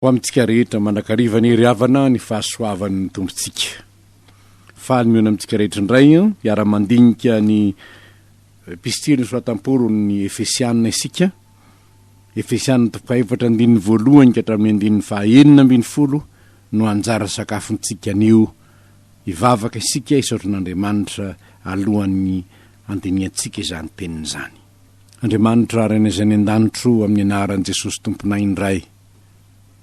Ho amintsika rehetra, mandrakariva ny hery havana ny fahasoavan' ny Tompontsika. Faly mihaona amintsika rehetra indray hiara-mandinika ny Epistily nosoratam-Paoly ny Efesiana isika, Efesiana toko fahaefatra andininy voalohany ka hatramin'ny andininy fahaenina ambin'ny folo no anjara sakafontsika anio. Hivavaka isika hisaotra an' Andriamanitra alohan'ny handinihantsika izany teniny izany. Andriamanitra Renay izay any an-danitro, amin'ny anaran'i Jesosy Tomponay indray.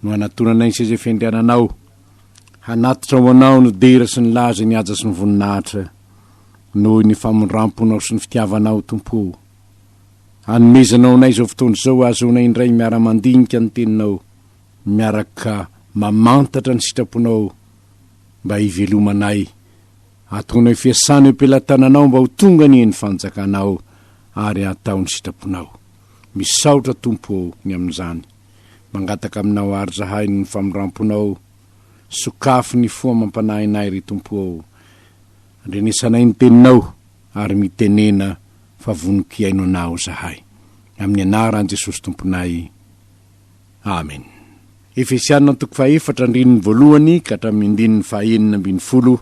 no hanatonanay ny seza fiandriananao, hanatitra ho anao ny dera sy ny laza, ny haja sy ny voninahitra, noho ny famindram-ponao sy ny fitiavanao, Tompo o. Anomezanao anay izao fotoana izao hahazoanay indray miara-mandinika ny Teninao, miaraka mamantatra ny sitraponao mba hivelomanay. Atonay fiasana eo am-pelatananao mba ho tonga anie ny fanjakanao ary hatao ny sitraponao. Misaotra Tompo ô ny amin'izany. Mangataka aminao àry zahay noho ny famindram-ponao. Sokafy ny fo amam-panahinay ry Tompo ô. Andrenesanay ny teninao ary mitenena fa voniko hihaino anao zahay. Amin'ny anaran'i Jesosy Tomponay. Amen. Efesiana toko fahefatra andininy voalohany ka hatramin'ny andininy fahaenina ambin'ny folo,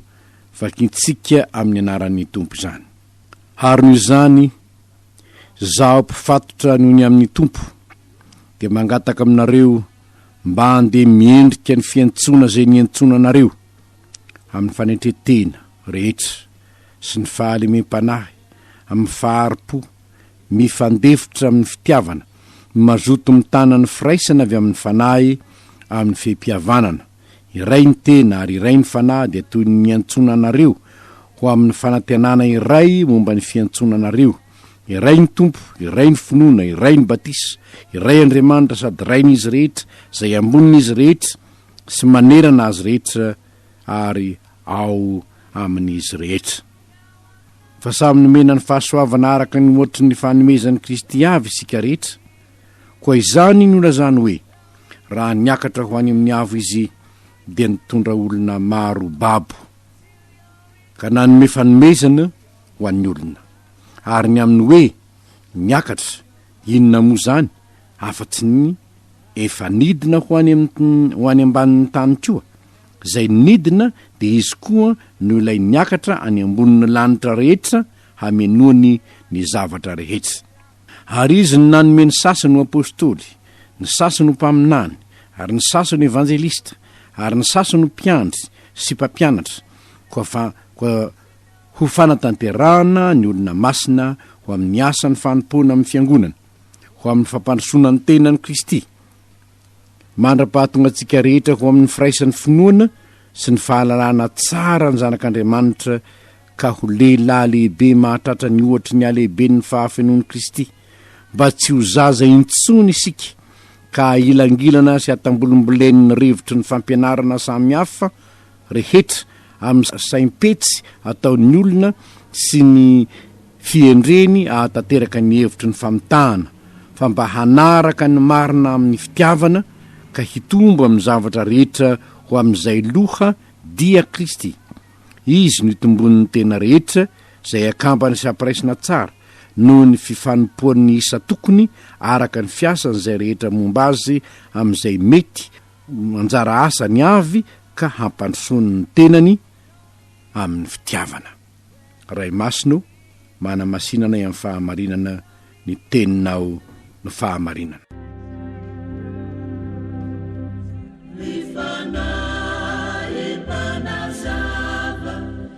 vakintsika amin'ny anaran'ny Tompo izany. Harono izany. Izaho mpifatotra noho ny amin'ny Tompo dia mangataka aminareo mba andeha miendrika ny fiantsoana izay niantsoana anareo amin'ny fanetren-tena rehetra sy ny fahalemem-panahy amin'ny fahari-po mifandefitra amin'ny fitiavana, mazoto mitana ny firaisana avy amin'ny Fanahy amin'ny fehi-pihavanana. Iray ny tena ary iray ny fanahy dia toy ny miantsoana anareo ho amin'ny fanantenana iray momba ny fiantsoana anareo. Iray ny Tompo, iray ny finoana, iray ny batisa, iray Andriamanitra sady Rain'izy rehetra, izay ambonin'izy rehetra sy manerana azy rehetra ary ao amin'izy rehetra. Fa samy nomena ny fahasoavana araka ny ohatry ny fanomezan'i Kristy avy isika rehetra. Koa izany nolazany hoe. Raha niakatra ho any amin'ny avo izy dia nitondra olona maro babo ka nanome fanomezana ho an'ny olona. Ary ny amin'ny hoe niakatra, inona moa izany afa-tsy ny efa nidina ho any ho any ambanin'ny tany koa? Izay nidina dia izy koa no ilay niakatra any ambonin'ny lanitra rehetra hamenoany ny zavatra rehetra. Ary izy no nanome ny sasany ho apostoly, ny sasany ho mpaminany, ary ny sasany ho evanjelista, ary ny sasany ho mpiandry sy mpampianatra, koa fa, koa ho fanatanterahana ny olona masina ho amin'ny asan'ny fanompoana amin'ny fiangonana, ho amin'ny fampandrosoana ny tenan'i Kristy. mandra-pahatonga antsika rehetra ho amin'ny firaisan'ny finoana sy ny fahalalana tsara ny zanak'Andriamanitra ka ho lehilahy lehibe mahatratra ny ohatry ny halehiben'ny fahafenoan'i Kristy, mba tsy ho zaza intsony isika ka ahilangilana sy hatambolimbolen'ny rivotry ny fampianarana samihafa rehetra amin'ny saim-petsy ataon'ny olona sy ny fihendreny ahatanteraka ny hevitry ny famitahana, fa mba hanaraka ny marina amin'ny fitiavana, ka hitombo amin'ny zavatra rehetra ho amin'izay loha, dia Kristy. Izy no itomboan'ny tena rehetra, izay akambana sy ampiraisina tsara, noho ny fifanompoan'ny isa tokony, araka ny fiasan'izay rehetra momba azy, amin'izay mety ho anjara asany avy ka hampandrosoany ny tenany amin'ny fitiavana. Ray Masina o, manamasina anay amin'ny fahamarinana ny Teninao no fahamarinana. Ny Fanahy mpanazava.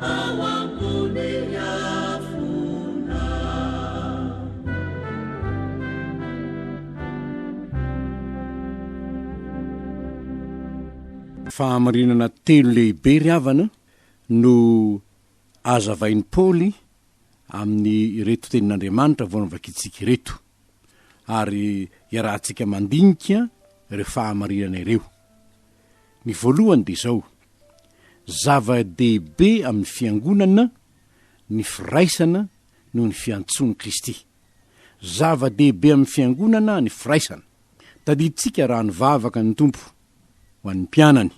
ao ambony afona. Fahamarinana telo lehibe ry havana no azavain'i Paoly amin'ireto tenin'Andriamanitra vao novakintsika ireto. ary iarahantsika mandinika ireo fahamarinana ireo. Ny voalohany dia izao, zava-dehibe amin'ny fiangonana ny firaisana noho ny fiantsoan'i Kristy. Zava-dehibe amin'ny fiangonana ny firaisana. Tadidintsika raha nivavaka ny Tompo ho an'ny mpianany,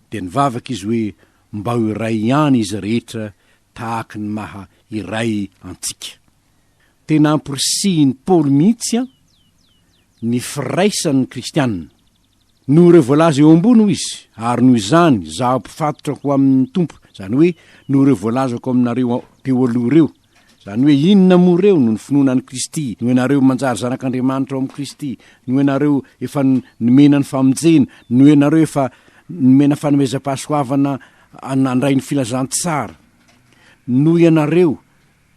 dia nivavaka izy hoe mba ho iray ihany izy rehetra tahaka ny maha iray antsika. Tena ampirisihin'i Paoly mihitsy ny firaisan'ny kristiana. Noho ireo voalaza eo ambony hoy izy, ary noho izany izaho mpifatotra ho amin'ny Tompo, izany hoe noho ireo voalazako aminareo teo aloha ireo. Izany hoe inona moa ireo? Noho ny finoana an'i Kristy, noho ianareo manjary zanak'Andriamanitra ao amin'i Kristy, noho ianareo efa nomena ny famonjena, noho ianareo efa nomena fanomezam-pahasoavana nandray ny filazantsara noho ianareo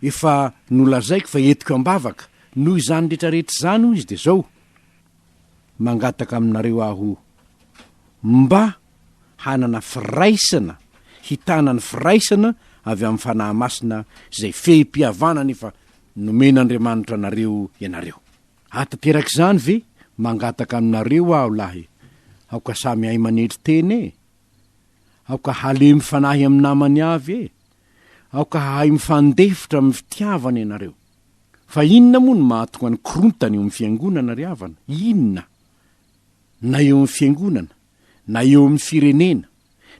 efa nolazaiko fa entiko am-bavaka, noho izany rehetrarehetra izany, hoy izy, dia izao, mangataka aminareo aho mba hanana firaisana, hitana ny firaisana avy amin'ny Fanahy Masina, izay fehim-pihavanana efa nomen'Andriamanitra anareo ianareo. Ahatanteraka izany ve? Mangataka aminareo aho lahy, aoka samy hahay manetry tena e! Aoka halemy fanahy amin'ny namany avy e! Aoka hahay mifandefitra amin'ny fitiavana ianareo. Fa inona moa no mahatonga ny korontana eo amin'ny Fiangonana ry havana? Inona? Na eo amin'ny Fiangonana, na eo amin'ny firenena,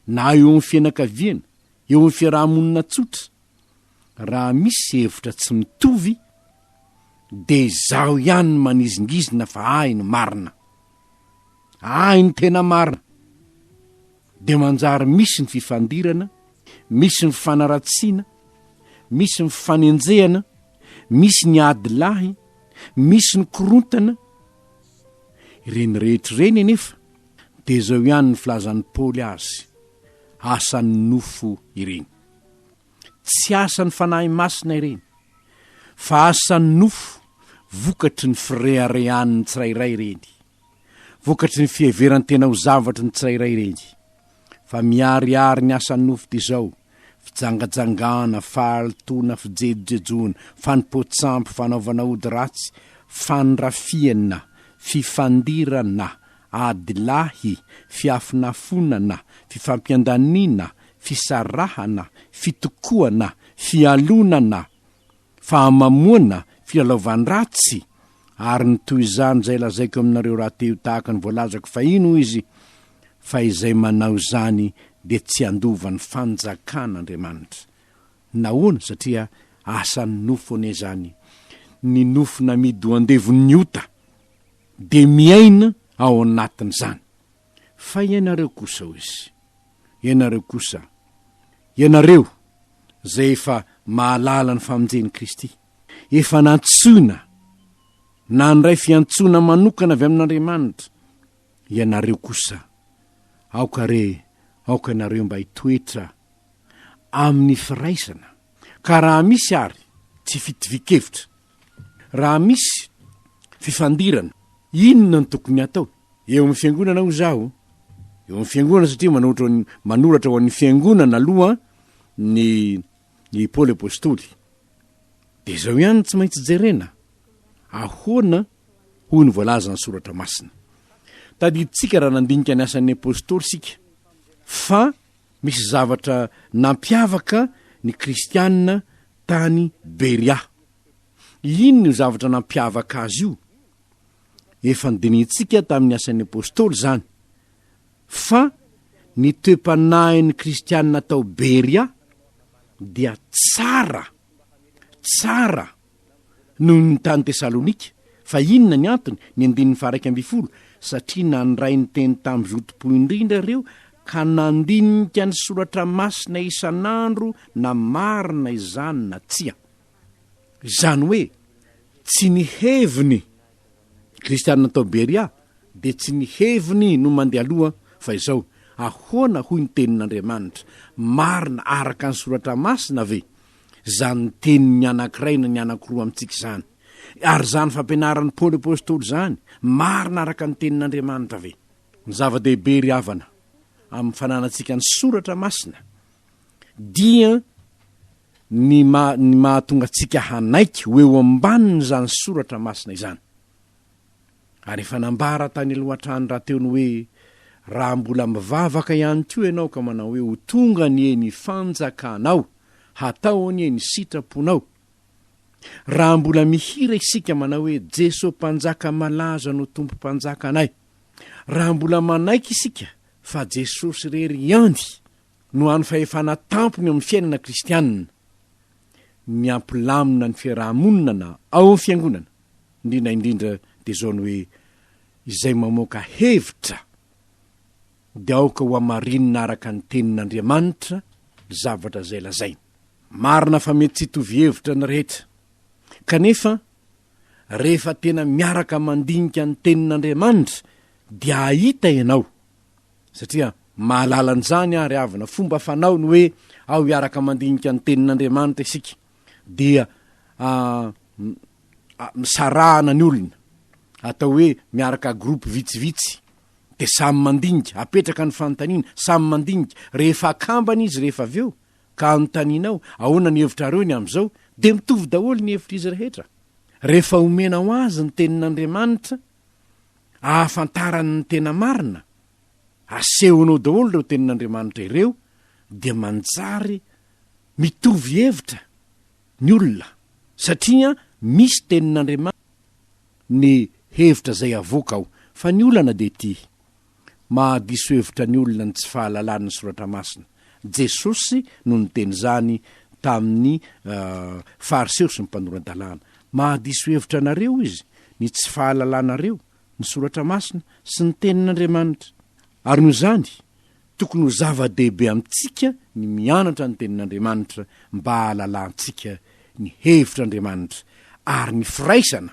na eo amin'ny fianakaviana, eo amin'ny fiaraha-monina tsotra? Raha misy hevitra tsy mitovy, dia izaho ihany no manizingizina fa ahy no marina. Ahy ny tena marina dia manjary misy ny fifandirana, misy ny fanaratsiana, misy ny fanenjehana, misy ny ady lahy, misy ny korontana, ireny rehetra ireny anefa dia izao ihany ny filazan'i Paoly azy, asan'ny nofo ireny. Tsy asan'ny Fanahy Masina ireny, fa asan'ny nofo, vokatry ny fireharehan'ny tsirairay ireny, vokatry ny fiheveran-tena ho zavatry ny tsirairay ireny. Fa miharihary ny asan'ny nofo dia izao, fijangajangana, fahalotoana, fijejojejoana, fanompoan-tsampy, fanaovana ody ratsy, fandrafiana, fifandirana, adilahy, fiafonafonana, fifampiandaniana, fisarahana, fitokoana, fialonana, fahamamoana, filalaovan-dratsy, ary ny toy izany izay lazaiko aminareo rahateo tahaka ny voalazako fahiny, hoy izy, fa izay manao izany dia tsy handova ny fanjakan'Andriamanitra. Nahoana? Satria asan'ny nofo anie izany, ny nofo namidy ho andevon'ny ota. dia miaina ao anatin'izany. Fa ianareo kosa, hoy Izy, ianareo kosa, ianareo izay efa mahalala ny famonjen'i Kristy, efa nantsoina, nandray fiantsoana manokana avy amin'Andriamanitra, ianareo kosa, aoka re, aoka ianareo mba hitoetra amin'ny firaisana, ka raha misy ary tsy fitovian-kevitra Raha misy fifandirana, inona no tokony hatao? Eo amin'ny fiangonana hoy izaho, eo amin'ny fiangonana satria manohitra ho an'ny- manoratra ho an'ny fiangonana aloha ny i Paoly Apostoly. Dia izao ihany no tsy maintsy jerena, ahoana hoy ny voalazan'ny Soratra Masina. Tadidintsika raha nandinika ny asan'ny Apostoly isika, fa misy zavatra nampiavaka ny kristiana tany Beria. Inona io zavatra nampiavaka azy io? Efa nodinihintsika tamin'ny Asan'ny Apostoly izany, fa ny toe-panahin'ny Kristianina tao Beria dia tsara, tsara, noho ny tany Tesalonika. Fa inona ny antony? Ny andininy faharaika ambin'ny folo, Satria nandray ny teny tamin'ny zotom-po indrindra ireo, ka nandinika ny soratra masina isan'andro na marina izany na tsia. Izany hoe, tsy ny heviny. Kristianina tao Beria dia tsy ny heviny no mandeha aloha fa izao, Ahoana hoy ny Tenin'Andriamanitra? Marina araka ny Soratra Masina ve izany tenin'ny anankiray na ny anankiroa amintsika izany? Ary izany fampianaran'i Paoly Apostoly izany, marina araka ny Tenin'Andriamanitra ve? Ny zava-dehibe, ry havana, amin'ny fananantsika ny Soratra Masina dia, ny maha, ny mahatonga antsika hanaiky ho eo ambanin'izany soratra masina izany. Ary efa nambara tany aloha hatrany rahateo ny hoe, Raha mbola mivavaka ihany koa ianao ka manao hoe, Ho tonga anie ny fanjakanao, hatao anie ny sitraponao. Raha mbola mihira isika manao hoe, Jeso Mpanjaka malaza no Tompo Mpanjakanay. Raha mbola manaiky isika fa Jesosy irery ihany no hany fahefana tampony eo amin'ny fiainana kristianina ny hampilamina ny fiaraha-monina ao amin'ny fiangonana, indrindra indrindra dia izao ny hoe izay mamoaka hevitra dia aoka ho hamarinina araka ny tenin'Andriamanitra ny zavatra izay lazainy. Marina fa mety tsy hitovy hevitra ny rehetra, kanefa rehefa tena miaraka mandinika ny tenin'Andriamanitra dia hahita ianao satria mahalala an'izany àry avy na fomba fanao ny hoe ao hiaraka mandinika ny Tenin'Andriamanitra isika, dia misarahana ny olona, atao hoe miaraka groupe vitsivitsy, dia samy mandinika, apetraka ny fanontaniana, samy mandinika, rehefa akambana izy rehefa avy eo ka anontaniana ao, ahoana ny hevitrareo ny amin'izao, dia mitovy daholo ny hevitr'izy rehetra, rehefa omena ho azy ny Tenin'Andriamanitra, ahafantarany ny tena marina, asehonao daholo ireo tenin'Andriamanitra ireo dia manjary mitovy hevitra ny olona satria misy tenin'Andriamanitra ny hevitra izay avoaka ao fa ny olana dia ity Mahadiso hevitra ny olona ny tsy fahalalany ny Soratra Masina. Jesosy no niteny izany tamin'ny Fariseo sy ny mpanora-dalàna. Mahadiso hevitra anareo Izy, ny tsy fahalalanareo ny Soratra Masina sy ny Tenin'Andriamanitra. Ary noho izany, tokony ho zava-dehibe amintsika ny mianatra ny Tenin'Andriamanitra mba hahalalantsika ny hevitr'Andriamanitra ary ny firaisana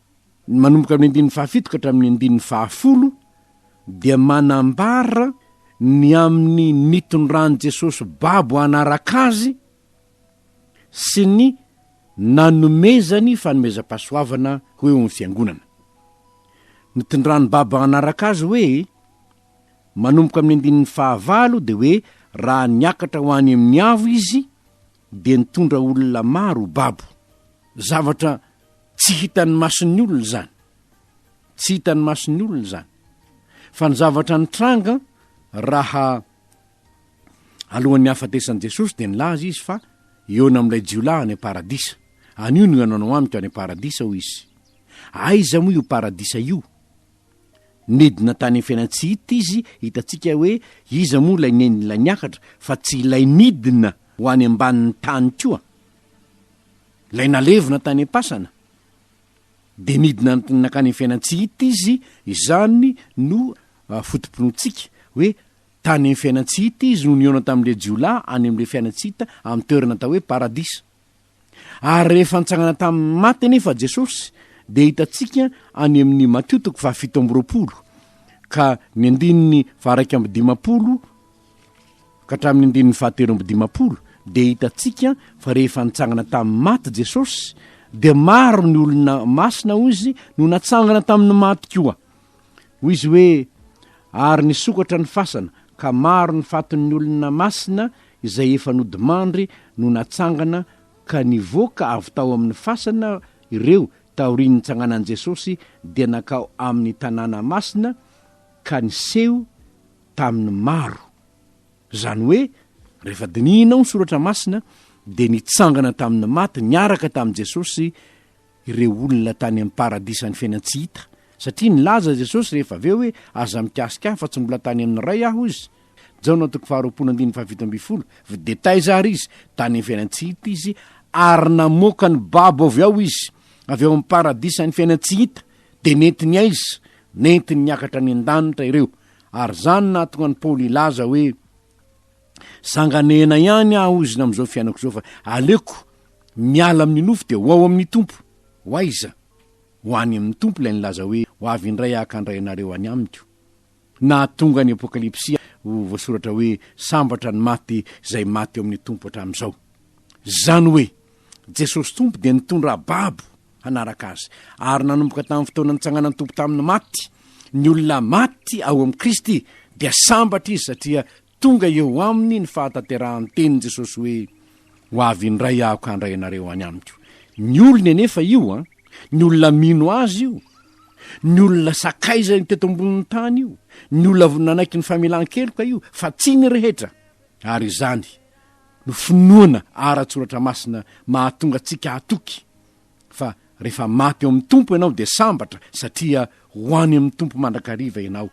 Ny manomboka amin'ny andininy fahafito ka hatramin'ny andininy fahafolo dia manambara ny amin'ny nitondran'i Jesosy babo hanaraka Azy sy ny nanomezany fanomezam-pahasoavana ho eo amin'ny Fiangonana. Nitondrany babo hanaraka Azy hoe, manomboka amin'ny andininy fahavalo dia hoe raha niakatra ho any amin'ny avo Izy dia nitondra olona maro ho babo. Zavatra tsy hitan'ny mason'ny olona izany. Tsy hitan'ny mason'ny olona izany. Fa ny zavatra nitranga raha alohan'ny hahafatesan'i Jesosy dia nilaza izy fa hihaona amin'ilay jiolahy any am-paradisa. Anio no hihaonanao amiko any am-paradisa hoy izy. Aiza moa io paradisa io? Nidina tany Fiainantsihita izy, hitantsika hoe iza moa ilay nenin'ilay niakatra fa tsy ilay nidina ho any ambanin'ny tany koa? Ilay nalevina tany am-pasana? Dia nidina nankany Fiainantsihita izy, izany no foto-pinoantsika hoe tany Fiainantsihita izy no nihaona tamin'ilay jiolahy any amin'ilay Fiainantsihita amin'ny toerana atao hoe Paradisa. Ary rehefa nitsangana tamin'ny maty anefa Jesosy, dia hitantsika any amin'ny Matio toko fahafito amby roapolo ka ny andininy faharaika amby dimapolo ka hatramin'ny andininy fahatelo amby dimapolo dia hitantsika fa rehefa nitsangana tamin'ny maty Jesosy dia maro ny olona masina hoy izy no natsangana tamin'ny maty koa. Hoy izy hoe, Ary nisokatra ny fasana, ka maro ny fatin'ny olona masina izay efa nodimandry no natsangana ka nivoaka avy tao amin'ny fasana ireo taorian'ny nitsanganan'i Jesosy dia nankao amin'ny tanàna masina ka niseho tamin'ny maro. Izany hoe, rehefa dinihinao ny soratra masina dia nitsangana tamin'ny maty niaraka tamin'i Jesosy ireo olona tany amin'ny paradisan'ny fiainana tsy hita, satria nilaza Jesosy rehefa avy eo hoe, Aza mikasika ahy, fa tsy mbola tany amin'ny Ray aho, hoy Izy. Jaona toko faharoapolo andininy fahafito ambin'ny folo, Videtaiza àry izy, tany amin'ny fiainana tsy hita izy, ary namoaka ny babo avy ao izy, avy ao amin'ny paradisan'ny fiainana tsy hita, dia nentiny aiza? Nentiny niakatra any an-danitra ireo. Ary izany nahatonga an'i Paoly hilaza hoe, Zanganehena ihany aho ozina amin'izao fiainako izao fa aleoko miala amin'ny nofo dia ho ao amin'ny Tompo. Ho aiza? Ho any amin'ny Tompo ilay nilaza hoe, Ho avy indray aho ka handray anareo any amiko. Nahatonga ny Apokalypsy ho voasoratra hoe, Sambatra ny maty izay maty eo amin'ny Tompo hatramin'izao. Izany hoe, Jesosy Tompo dia nitondra babo hanaraka Azy. Ary nanomboka tamin'ny fotoana nitsanganan'ny Tompo tamin'ny maty, ny olona maty ao amin'i Kristy dia sambatra izy satria Tonga eo aminy ny fahatanterahan'ny tenin'i Jesosy hoe, Ho avy indray Aho ka handray anareo any Amiko. Ny olony anefa io, ny olona mino Azy io, ny olona sakaizany teto ambonin'ny tany io, ny olona nanaiky ny famelan-keloka io, fa tsy ny rehetra. Ary izany no finoana ara-tsoratra masina mahatonga antsika hatoky fa rehefa maty ao amin'ny Tompo ianao dia sambatra satria ho any amin'ny Tompo mandrakariva ianao,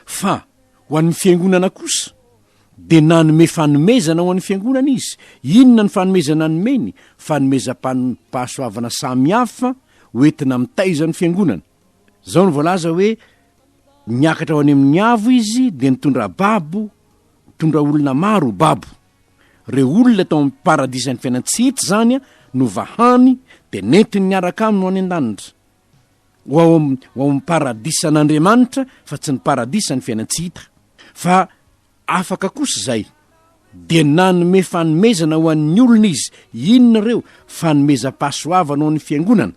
fa ho an'ny fiangonana kosa dia nanome fanomezana ho an'ny fiangonana izy, inona ny fanomezana nomeny? Fanomezam-pahasoavana samy hafa ho entina mitaiza ny fiangonana. Izao no voalaza hoe, Niakatra ho any amin'ny avo izy dia nitondra babo, nitondra olona maro ho babo. Ireo olona tao amin'ny paradisan'ny fiainana tsy hita izany no vahany dia nentiny niaraka aminy ho any an-danitra. Ho ao amin'ny paradisan'Andriamanitra fa tsy ny paradisan'ny fiainana tsy hita. Fa afaka kosa izay. Dia nanome fanomezana ho an'ny olona izy. Inona ireo? Fanomezam-pahasoavana ho an'ny fiangonana.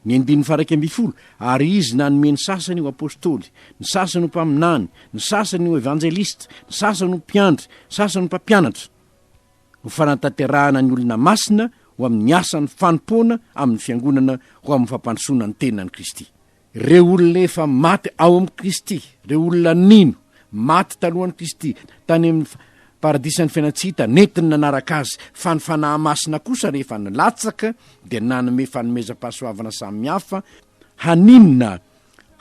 Ny andininy faha iraika ambin'ny folo, Ary Izy nanome ny sasany ho apostoly, ny sasany ho mpaminany, ny sasany ho evanjelista, ny sasany ho mpiandry, ny sasany ho mpampianatra, ho fanatanterahana ny olona masina ho amin'ny asan'ny fanompoana amin'ny Fiangonana ho amin'ny fampandrosoana ny tenan'i Kristy. Ireo olona efa maty ao amin'i Kristy, ireo olona nino, maty talohan'i Kristy, tany amin'ny Paradisan'ny fiainana tsy hita nentiny nanaraka azy, fa ny Fanahy Masina kosa rehefa nilatsaka dia nanome fanomezam-pahasoavana samihafa haninona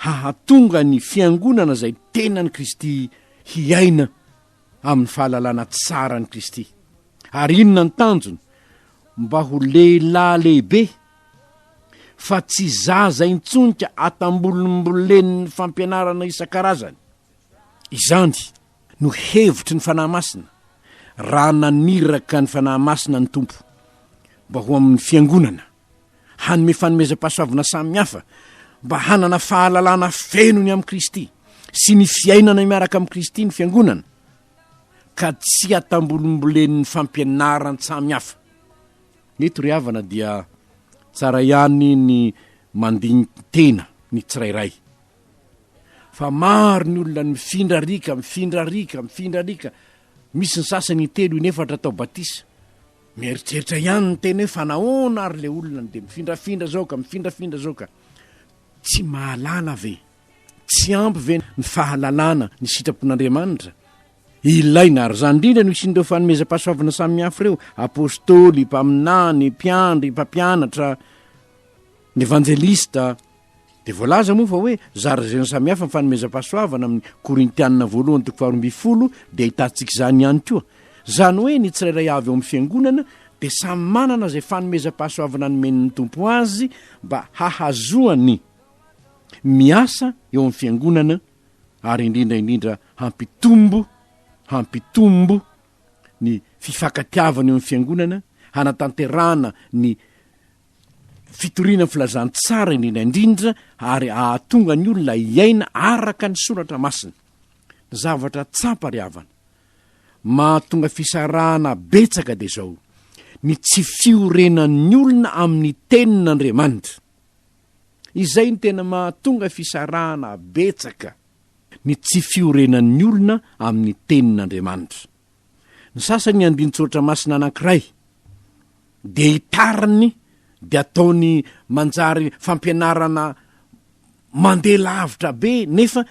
hahatonga ny Fiangonana izay tenan'i Kristy hiaina amin'ny fahalalana tsara an'i Kristy. Ary inona ny tanjony? Mba ho lehilahy lehibe, fa tsy zaza intsony ka atambolimbolen'ny fampianarana isan-karazany. Izany no hevitry ny Fanahy Masina, raha naniraka ny Fanahy Masina ny Tompo mba ho amin'ny Fiangonana, hanome fanomezam-pahasoavana samihafa, mba hanana fahalalana feno ny amin'i Kristy sy ny fiainana miaraka amin'i Kristy ny Fiangonana, ka tsy atambolimbolen'ny fampianaran-tsamihafa. Eto ry havana dia tsara ihany ny mandini-tena ny tsirairay fa maro ny olona mifindra riaka, mifindra riaka, mifindra riaka, misy ny sasany intelo, inefatra atao batisa. Mieritreritra ihany ny tena hoe fa nahoana ary ilay olona no dia mifindrafindra izao ka, mifindrafindra izao ka. Tsy mahalala ve? Tsy ampy ve ny fahalalana ny sitrapon'Andriamanitra? Ilaina ary izany indrindra no hisian'ireo fanomezam-pahasoavana samihafa ireo, apostoly, mpaminany, mpiandry, mpampianatra, ny evanjelista, Dia voalaza moa fa hoe zarazeny samihafa ny fanomezam-pahasoavana amin'ny Korintianina voalohany toko faharoa ambin'ny folo dia ahitantsika izany ihany koa. Izany hoe ny tsirairay avy ao amin'ny Fiangonana dia samy manana izay fanomezam-pahasoavana nomen'ny Tompo azy mba hahazoany miasa eo amin'ny Fiangonana ary indrindra indrindra hampitombo hampitombo ny fifankatiavana eo amin'ny Fiangonana, hanatanterahana ny Fitoriana filazantsara indrindra indrindra ary ahatonga ny olona hiaina araka ny soratra masina. Zavatra tsapa ry havana, mahatonga fisarahana betsaka dia izao, ny tsy fiorenan'ny olona amin'ny tenin'Andriamanitra. Izay no tena mahatonga fisarahana betsaka, ny tsy fiorenan'ny olona amin'ny tenin'Andriamanitra. Ny sasany andinin-tsoratra masina anankiray dia itariny dia ataony manjary fampianarana mandeha lavitra be nefa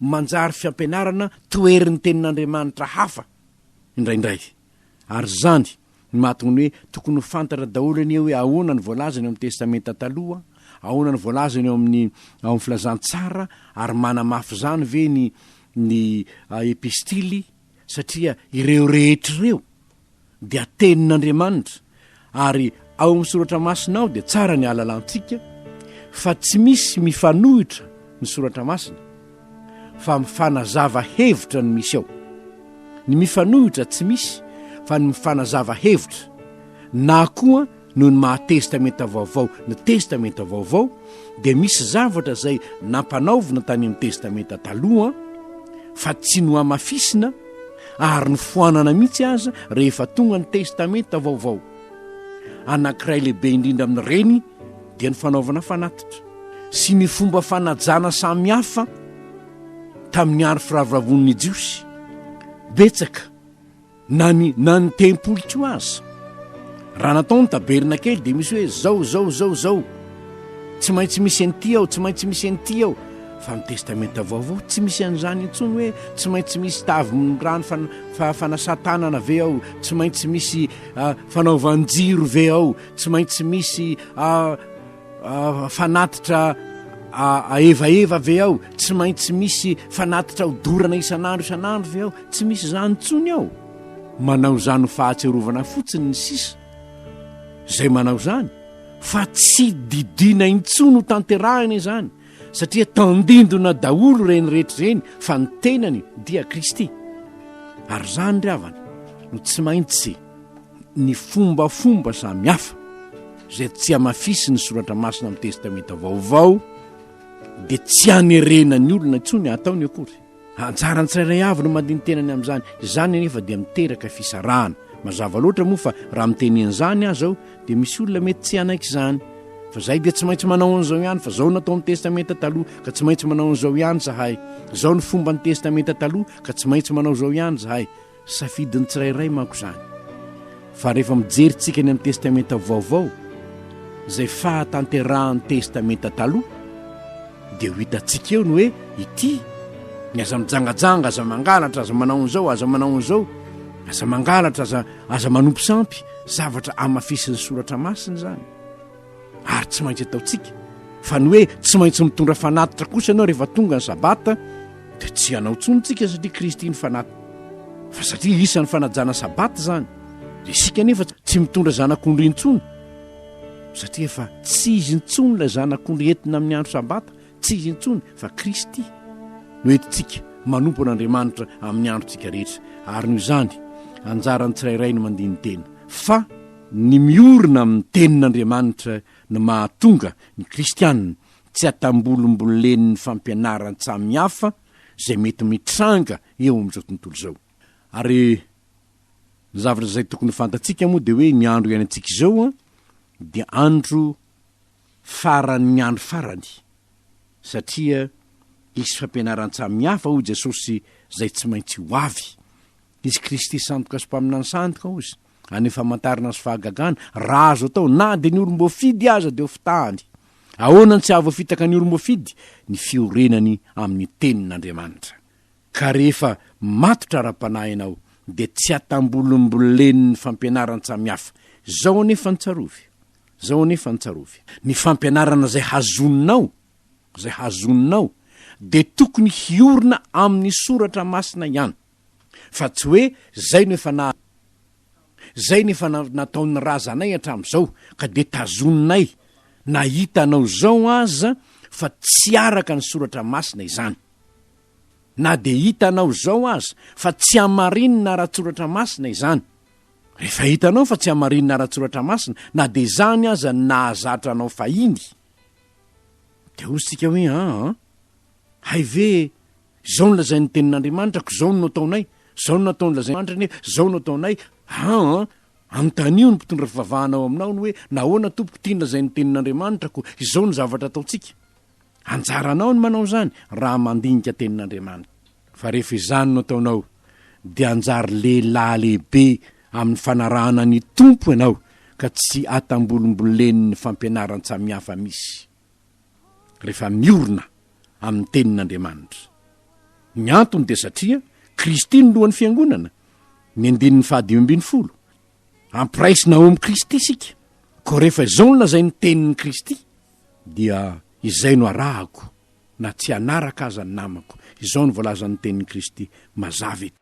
manjary fiampianarana toherin'ny tenin'Andriamanitra hafa indraindray. Ary izany no mahatonga ny hoe tokony ho fantatra daholo anie hoe ahoana ny voalazany ao amin'ny Testamenta Taloha, ahoana ny voalazany ao amin'ny ao amin'ny Filazantsara ary manamafy izany ve ny ny epistily satria ireo rehetra ireo dia tenin'Andriamanitra ary ao amin'ny soratra masina ao dia tsara ny ahalalantsika fa tsy misy mifanohitra ny soratra masina fa mifanazava hevitra ny misy ao ny mifanohitra tsy misy fa ny mifanazava hevitra na koa Noho ny maha Testamenta Vaovao ny Testamenta Vaovao, dia misy zavatra izay nampanaovina tany amin'ny Testamenta Taloha fa tsy nohamafisina ary nofoanana mihitsy aza rehefa tonga ny Testamenta Vaovao. Anankiray lehibe indrindra amin'ireny dia ny fanaovana fanatitra sy ny fomba fanajana samy hafa tamin'ny aro firavoravoan'ny Jiosy. Betsaka. Na ny, na ny tempoly koa aza. Raha natao ny tabernakely dia misy hoe zao, zao, zao, zao. Tsy maintsy misy an'ity ao, tsy maintsy misy an'ity ao. Fa ny Testamenta Vaovao tsy misy an'izany intsony hoe tsy maintsy misy tavy mirano fan, fa, fanasan-tanana ve ao, tsy maintsy misy, ah, fanaovan-jiro ve ao, tsy maintsy misy, ah, fanatitra aevaeva ve ao tsy maintsy misy fanatitra ho dorana isan'andro isan'andro ve ao tsy misy izany ntsony ao manao izany ho fahatserovana fotsiny ny sisa zay manao izany fa tsy didina intsony ho tanterahina izany satria tandindona daholo reny rehetra ireny fa ny tenany dia kristy ary izany ry havana no tsy maintsy ny fombafomba samy hafa izay tsy hamafisin'ny soratra masina amin'ny Testamenta Vaovao dia tsy hanerena ny olona intsony hataony akory. Anjaran'ny tsirairay avy ny mandini-tena ny amin'izany. Izany anefa dia miteraka fisarahana. Mazava loatra moa fa raha miteny an'izany aza aho dia misy olona mety tsy hanaiky izany. Fa izahay dia tsy maintsy manao an'izao ihany fa izao no atao amin'ny Testamenta Taloha ka tsy maintsy manao an'izao ihany izahay. Izao no fomban'ny Testamenta Taloha ka tsy maintsy manao izao ihany izahay. Safidin'ny tsirairay manko izany. Fa rehefa mijery tsika ny amin'ny Testamenta Vaovao, izay fahatanterahan'ny Testamenta Taloha, dia ho hitantsika eo ny hoe ity, ny aza mijangajanga, aza mangalatra, aza manao an'izao, aza manao an'izao, aza mangalatra, aza, aza manompo sampy, zavatra amafisin'ny Soratra Masina izany. ary tsy maintsy ataontsika fa ny hoe tsy maintsy mitondra fanatitra kosa ianao rehefa tonga ny sabata dia tsy hanao tsony tsika satria kristy ny fanat fa satria isan'ny fanajana sabata zany de isika nefa tsy mitondra zanak'ondry intsony satria efa tsy izy intsony ilay zanak'ondry entina amin'ny andro sabata tsy izy intsony fa kristy no entintsika manompo an'andriamanitra amin'ny androntsika rehetra ary noho izany anjaran'ny tsirairay no mandiny tena fa Ny miorina amin'ny Tenin'Andriamanitra no mahatonga ny Kristiana tsy hatambolombolen'ny fampianaran-tsamy hafa izay mety mitranga eo amin'izao tontolo izao. Ary ny zavatra izay tokony ho fantatsika moa dia hoe ny andro iainantsika izao dia andro faran'ny andro farany, satria hisy fampianaran-tsamy hafa, hoy Jesosy, izay tsy maintsy ho avy. Hisy Kristy sandoka sy mpaminany sandoka, hozy. any famantarana sy fahagagana raha azo atao na dia ny olom-boafidy aza dia ho fitahany. Ahoana no tsy hahavoafitaka ny olom-boafidy? Ny fiorenany amin'ny tenin'Andriamanitra. Ka rehefa matotra ara-panahy ianao dia tsy hatambolimbolen'ny fampianaran-tsamihafa. Zao anefa ny tsarovy, zao anefa ny tsarovy, ny fampianarana izay hazoninao, izay hazoninao dia tokony hiorina amin'ny soratra masina ihany. Fa tsy hoe zay no efa na zay no efa nataon'ny razanay hatramin'izao ka dia tazoninay na hita anao izao aza fa tsy araka ny soratra masina izany. Na dia hita anao izao aza fa tsy hamarinina ara-tsoratra masina izany. Rehefa hitanao fa tsy hamarinina ara-tsoratra masina na dia izany aza ny nahazatra anao fahiny dia hoy isika hoe aa, Hay ve e! Izao no lazain'ny Tenin'Andriamanitra, koa izao no nataonay, izao no nataon'ny lazain'Andriamanitra anie, izao no ataonay, han! Anontanio ny mpitondra fivavahana ao aminao ny hoe, Nahoana, Tompoko, ity ny lazain'ny Tenin'Andriamanitra, koa izao no zavatra ataontsika? Anjaranao ny manao izany, raha mandinika Tenin'Andriamanitra. Fa rehefa izany no ataonao, dia hanjary lehilahy lehibe amin'ny fanarahana ny Tompo ianao, ka tsy atambolimbolen'ny fampianaran-tsamihafa misy. rehefa miorina amin'ny Tenin'Andriamanitra. Ny antony dia satria Kristy no lohan'ny Fiangonana, ny andininy fahadimy ambin'ny folo. Ampiraisina ao amin'i Kristy isika, koa rehefa izao no lazain'ny Tenin'i Kristy, dia izay no arahako na tsy hanaraka aza ny namako. Izao no voalazan'ny Tenin'i Kristy mazava eto.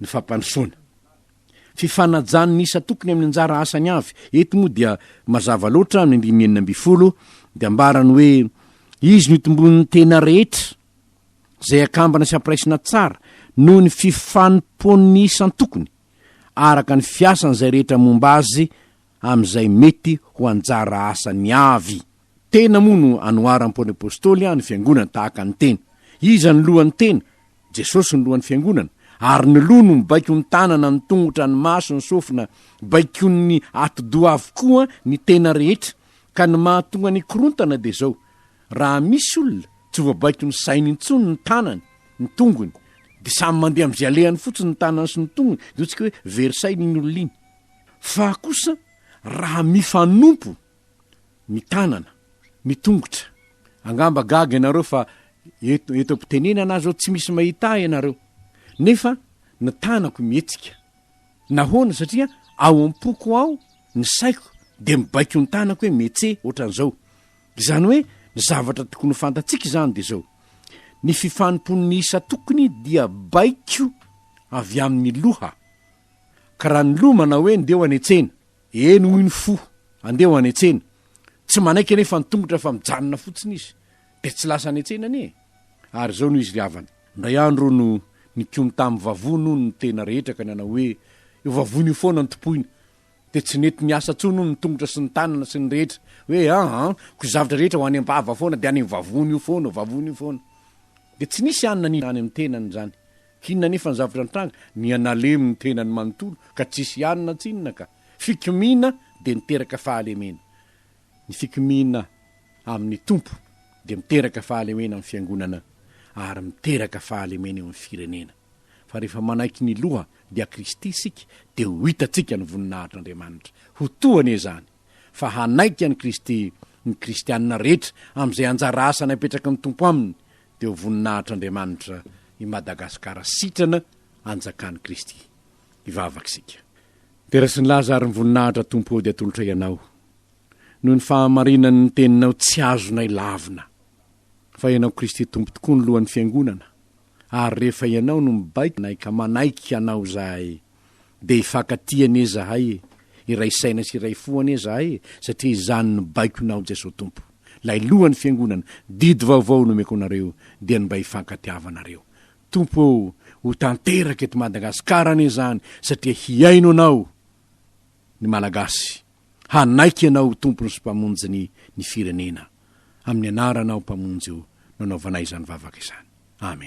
ny fampandrosoana. Fifanajan'ny isan-tokony amin'ny anjara asany avy. Eto moa dia mazava loatra amin'ny andininy enina ambin'ny folo dia ambarany hoe izy no itomboan'ny tena rehetra izay akambana sy ampiraisina tsara noho ny fifanompoan'ny isan-tokony araka ny fiasan'izay rehetra momba azy amin'izay mety ho anjara asany avy. Tena moa no anoharam pony apostoly ny fiangonana tahaka ny tena. Iza no lohan ny tena? Jesosy no lohan ny fiangonana. Ary ny loha no mibaiko ny tanana, ny tongotra, ny maso, ny sofina. Baikon ny ati doha avokoa ny tena rehetra. Ka ny mahatonga ny hikorontana dia izao, raha misy olona tsy voabaiko ny sainy intsony ny tanany, ny tongony, dia samy mandeha amin izay alehany fotsiny ny tanany sy ny tongony, dia hoantsika hoe very saina iny olona iny. Fa kosa raha mifanompo ny tanana, ny tongotra. Angamba gaga ianareo fa eto eto am-pitenenana aza aho tsy misy mahita ahy ianareo. Nefa ny tanako mihetsika. Nahoana? Satria ao am-poko ao ny saiko dia mibaiko ny tanako hoe metse ohatran'izao. Izany hoe ny zavatra tokony ho fantatsika izany dia izao, ny fifanompoan'ny isa tokony dia baiko avy amin'ny loha. Ka raha ny loha manao hoe ndeha ho any an-tsena, Eny hoy ny fo, andeha ho any an-tsena. Tsy manaiky anefa ny tongotra fa mijanona fotsiny izy, dia tsy lasa any an-tsena anie e! Ary izao no izy ry havana, indray andro hono nikomy tamin'ny vavony hono ny tena rehetra ka nanao hoe, io vavony io foana no tompoina. Dia tsy nety niasa intsony hono ny tongotra sy ny tanana sy ny rehetra, hoe an! an! ko zavatra rehetra ho any am-bava foana dia any amin'ny vavony io foana, vavony io foana. Dia tsy nisy hanina nihina any amin'ny tenany izany Tsinona anefa ny zavatra nitranga, nihanalemy ny tenany manontolo ka tsisy ihany na tsinona ka. Fikomiana dia niteraka fahalemena. Ny fikomiana amin'ny Tompo dia miteraka fahalemena amin'ny Fiangonana ary miteraka fahalemena eo amin'ny firenena. Fa rehefa manaiky ny Loha, dia Kristy isika, dia ho hitantsika ny voninahitr'Andriamanitra. Ho toa anie izany fa hanaiky an'i Kristy ny kristiana rehetra amin'izay anjara asany apetraky ny Tompo aminy dia ho voninahitr'Andriamanitra i Madagasikara sitrana anjakan'i Kristy. Hivavaka isika. Tera sy nilaza ary ny voninahitra Tompo ô dia atolotray Ianao noho ny fahamarinany ny teninao tsy azonay lavina fa Ianao Kristy Tompo tokoa ny lohan'ny fiangonana ary rehefa Ianao no mibaiko nay ka manaiky Anao izahay Dia hifankatia anie zahay e! Iray saina sy iray fo anie zahay e! Satria izany no baikona ao Jesoa Tompo! Lay lohan'ny fiangonana, didy vaovao nomeko anareo dia ny mba hifankatiavanareo! Tompo ô! Ho tanteraka eto Madagasikara anie izany satria hihaino Anao ny Malagasy! Hanaiky Ianao ho Tompony sy Mpamonjiny ny Firenena! Amin'ny Anaranao Mpamonjy o no anaovanay izany vavaka izany! Amen!